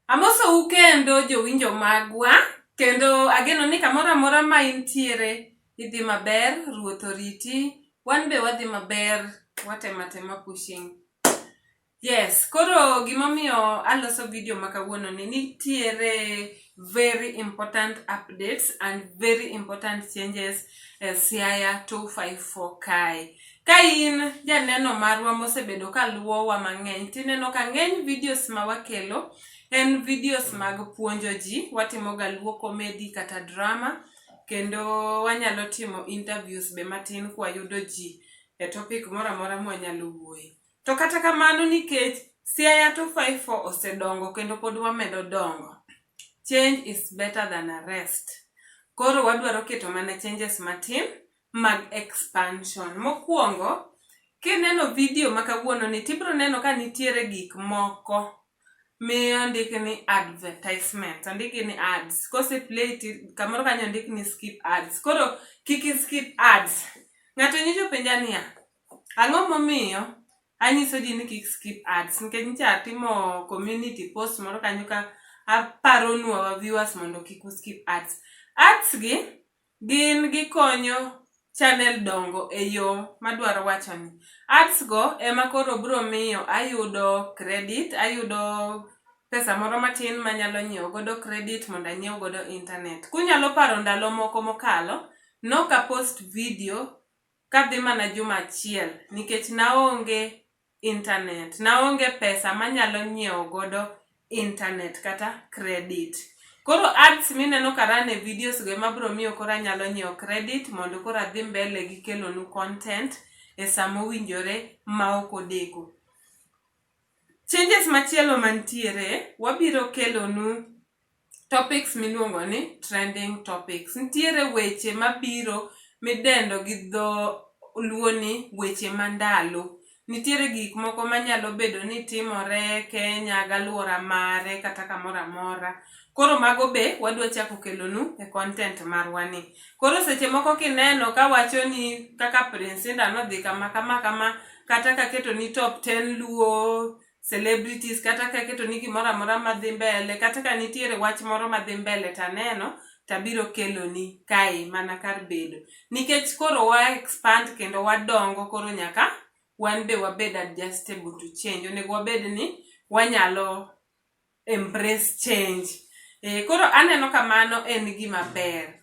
Amosou kendo jowinjo magwa kendo ageno ni kamoro amora ma intiere idhi maber, ruoth oriti, wan be wadhi maber, watematema pushing. Yes, koro gimomiyo aloso video ma kawuono ni nitiere very important updates and very important changes e Siaya 254 kae. Ka in janeno marwa mosebedo ka luwowa mang'eny, tineno ka ng'eny videos ma wakelo en videos mag puonjo ji, watimoga luo komedi kata drama, kendo wanyalo timo interviews be matin kwayudo ji e topic moro amora mwanyalo wuoye. To kata kamano nikech Siaya 254 osedongo kendo pod wamedo dongo. Change is better than arrest. Koro wadwaro keto mana changes matin mag expansion. Mokwongo, kineno video ma kawuono ni tibro neno ka nitiere gik moko miyo ndik ni advertisement ondiki ni ads kose play kamoro kanyo ondik ni skip ads koro kik skip ads ng'ato nyicho penja niya Ang'o momiyo anyiso ji ni kik skip ads nikech nyicha atimo community post moro kanyo ka aparonu our viewers mondo kik u skip ads. Ads gi gin gikonyo channel dongo e yo madwaro wacho ni. Ads go ema koro biro miyo ayudo credit, ayudo pesa moro matin manyalo nyiewo godo credit mondo anyiew godo internet. Kunyalo paro ndalo moko mokalo, noka post video kadhi mana juma achiel nikech naonge internet, naonge pesa manyalo nyiewo godo internet kata credit. Koro ads mineno ka run e videos go ema bro miyo koro anyalo nyiewo credit mondo koro adhi mbele gi kelonu content e saa mowinjore ma ok odeko. Changes machielo mantiere, wabiro kelonu topics miluongo ni trending topics. Nitiere weche mabiro midendo gi dho luo ni weche mandalo. Nitiere gik moko manyalo bedo ni timore Kenya galwora mare kata kamoro amora. Koro mago be wadwa chako kelonu e content marwa ni. Koro seche moko kineno kawacho ni kaka Prince Indah nodhi kama kama kama kata kaketoni top ten luo celebrities kata kaketo ni gimoro amora madhi mbele kata ka nitiere wach moro madhi mbele taneno tabiro keloni kae mana kar bedo nikech koro wa expand kendo wadongo koro nyaka wan be wabed adjustable to change onego wabed ni wanyalo embrace change e, koro aneno kamano en gima ber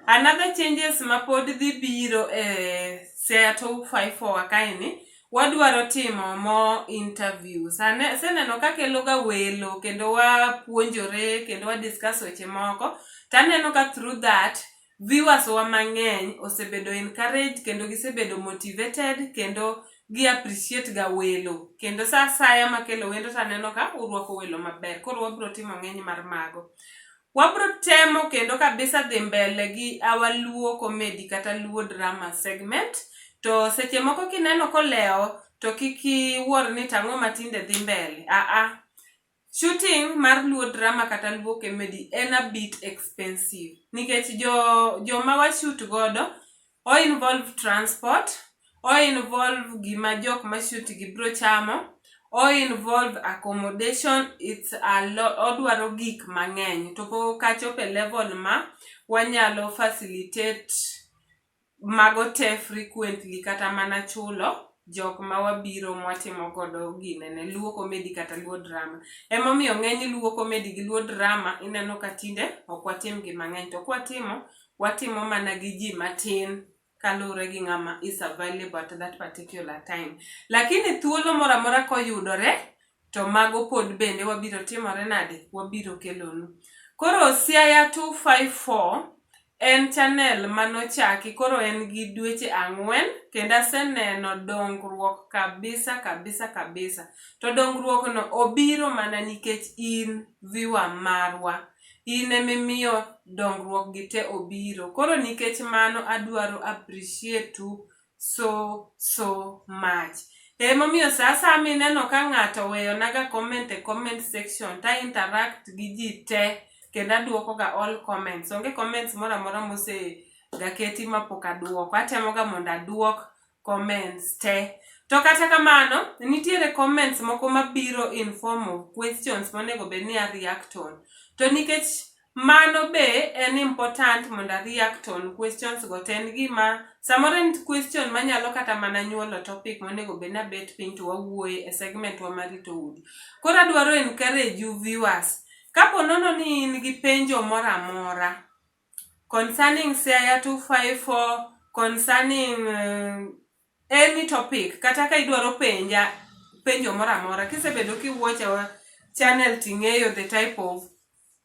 another changes ma pod dhi biro e seattle 54 kaeni wadwaro timo mo interviews aseneno ka keloga welo kendo wapuonjore kendo wadiscuss weche moko taneno ka through that Viewers wa mang'eny osebedo encouraged kendo gisebedo motivated kendo gi appreciate ga welo kendo sa asaya makelo wendo taneno ka urwako welo maber koro wabro timo ng'eny mar mago. Wabro temo kendo kabisa dhi mbele gi our Luo comedy kata Luo drama segment to seche moko kineno kolewo to kik iwuor ni tang'o matinde dhi mbele. Aa, Shooting mar Luo drama kata Luo comedy en a bit expensive nikech jo joma wa shoot godo o involve transport, o involve gima jok ma shoot gi bro chamo, o involve accommodation, it's a lot, odwaro gik mang'eny to pok achopo e level ma wanyalo facilitate mago te frequently kata mana chulo jok ma wabiro ma watimo godo ginene, luo comedy kata luo drama. Ema omiyo ng'eny luo comedy gi luo drama ineno ka tinde ok watim gi mang'eny to ka watimo, watimo mana gi ji matin kaluwore gi ng'ama is available at that particular time. Lakini thuolo moro amora ka oyudore To mago pod bende wabiro timore nade? Wabiro kelonu. Koro Siaya 254 en channel manochaki koro en gi dweche ang'wen kendo aseneno dongruok kabisa kabisa kabisa. To dongruok no obiro mana nikech in viewer marwa. In emimiyo dongruok gi te obiro. Koro nikech mano adwaro appreciate u so so much emomiyo saa saa mineno ka ng'ato oweyonaga comment e comment section ta interact gi ji te kendo aduokoga all comments onge comments moro amora mosegaketi mapok aduoko atemoga mondo aduok comments te to kata kamano nitiere comments moko mabiro in form of questions monego bed ni a react on to nikech Mano be en important mondo a react on questions go to en gima samoro en question manyalo kata mana nyuolo topic monego bed ni abet piny to wawuoye e segment wa mar rito udi. Koro adwaro encourage you viewers. Kapo nono ni in gi penjo moro amora concerning Siaya 254, concerning uh, Any topic kata ka idwaro penja penjo moro amora kisebedo kiwuocha wa channel ting'eyo the type of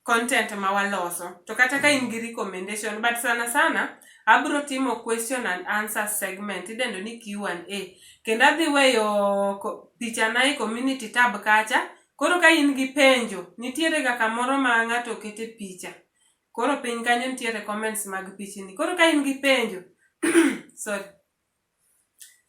content ma waloso to kata ka in gi recommendation but sana sana abro timo question and answer segment idendo ni Q&A kendo adhi weyo ko- pichana e community tab kacha koro ka in gi penjo nitiere ga kamoro ma ng'ato kete picha Koro piny kanyo nitiere comments mag pichni. Koro ka in gi penjo, sorry.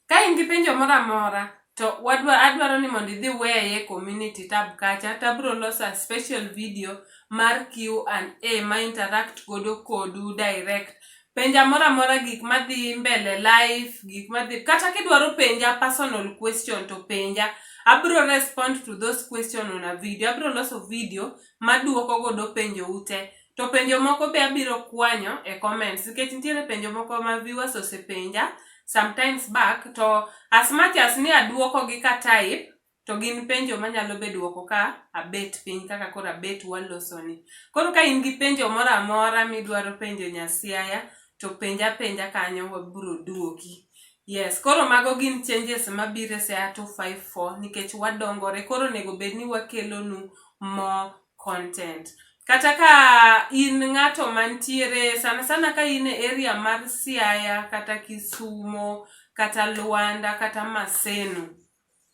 Ka in gi penjo moro amora to wadwa adwaro ni mondo idhi weye community tab kacha to abiro loso a special video mar Q&A ma interact godo kodu direct. Penja moro amora gik madhi mbele life, gik madhi kata kidwaro penja personal question to penja. Abiro respond to those question on a video. Abiro loso video maduoko godo penjo u te. To penjo moko be abiro kwanyo e comments nikech nitiere penjo moko ma viewers osepenja sometimes back to as much as ni aduoko gi ka type to gin penjo manyalo be duoko ka abet piny kaka koro abet waloso ni. Koro ka in gi penjo moro amora midwaro penjo Nyasiaya to penja penja kanyo wabiro duoki. Yes, koro mago gin changes mabiro e Siaya 254 nikech wadongore koro onego bed ni wakelonu more content. Kata ka in ng'ato mantiere sana sana ka in e area mar Siaya kata Kisumo kata Luanda kata Maseno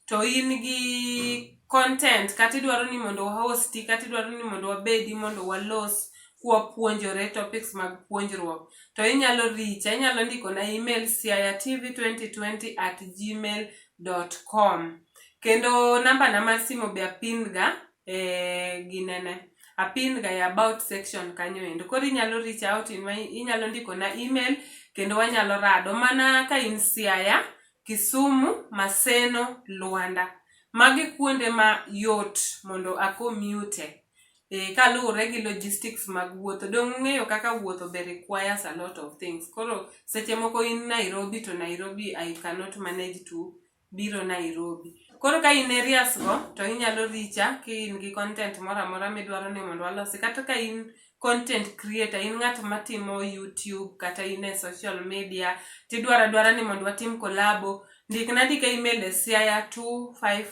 to in gi content kata idwaro ni mondo wahosti kata idwaro ni mondo wabedi mondo walos kwapuonjore topics mag puonjruok to inyalo richa inyalo ndikona email siayatv2020 at gmail com Kendo namba na mar simo be apin ga e ginene. Apin ga e about section kanyo endo. Koro inyalo reach out in my, inyalo ndiko na email kendo wanyalo rado mana ka in Siaya, Kisumu, Maseno, Luanda. Magi kuonde ma yot mondo a commute e kaluwore gi logistics mag wuotho. Donge ung'eyo kaka wuotho be requires a lot of things. Koro seche moko in Nairobi to Nairobi I cannot manage to biro Nairobi. Koro ka in areas go to inyalo richa ka in gi content moro amora midwaro ni mondo walosi kata ka in content creator in ng'at matimo YouTube kata in e social media tidwaro adwara ni mondo watim kolabo ndikna ndika email e siaya25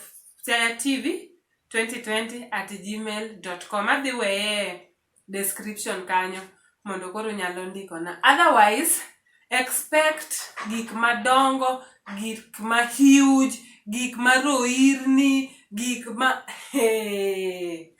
siaya tv 2020 at gmail.com adhi weye description kanyo mondo koro nyalo ndikona otherwise expect gik madongo gik ma huge gik ma roirni gik ma hey.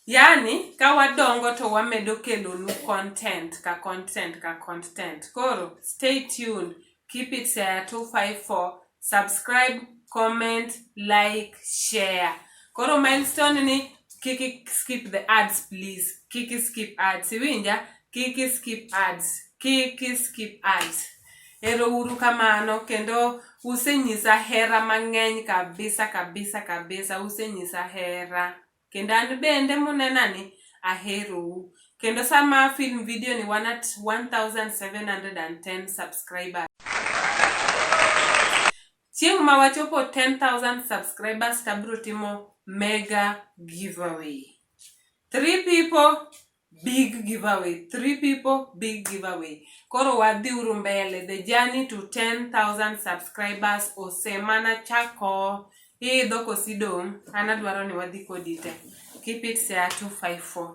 yani ka wadongo to wamedo kelonu content ka content ka content koro stay tuned Keep it Siaya 254. Subscribe, comment, like, share. Koro milestone ni kiki skip the ads please. Kiki skip ads. Iwinja? Kiki skip ads. Kiki skip ads. Ero uru kamano kendo usenyisa hera mang'eny kabisa kabisa kabisa usenyisa hera. Kendo an bende munena ni aherou. Kendo sama film video ni wan at 1710 subscribers. Chieng' ma wachopo 10,000 subscribers tabro timo mega giveaway. Three people Big giveaway. Three people, big giveaway. Koro wadhi uru mbele. The journey to 10,000 subscribers osemana chako. Hii dhoko sidong. Anadwaro ni wadhi kodi te. Keep it sea 254.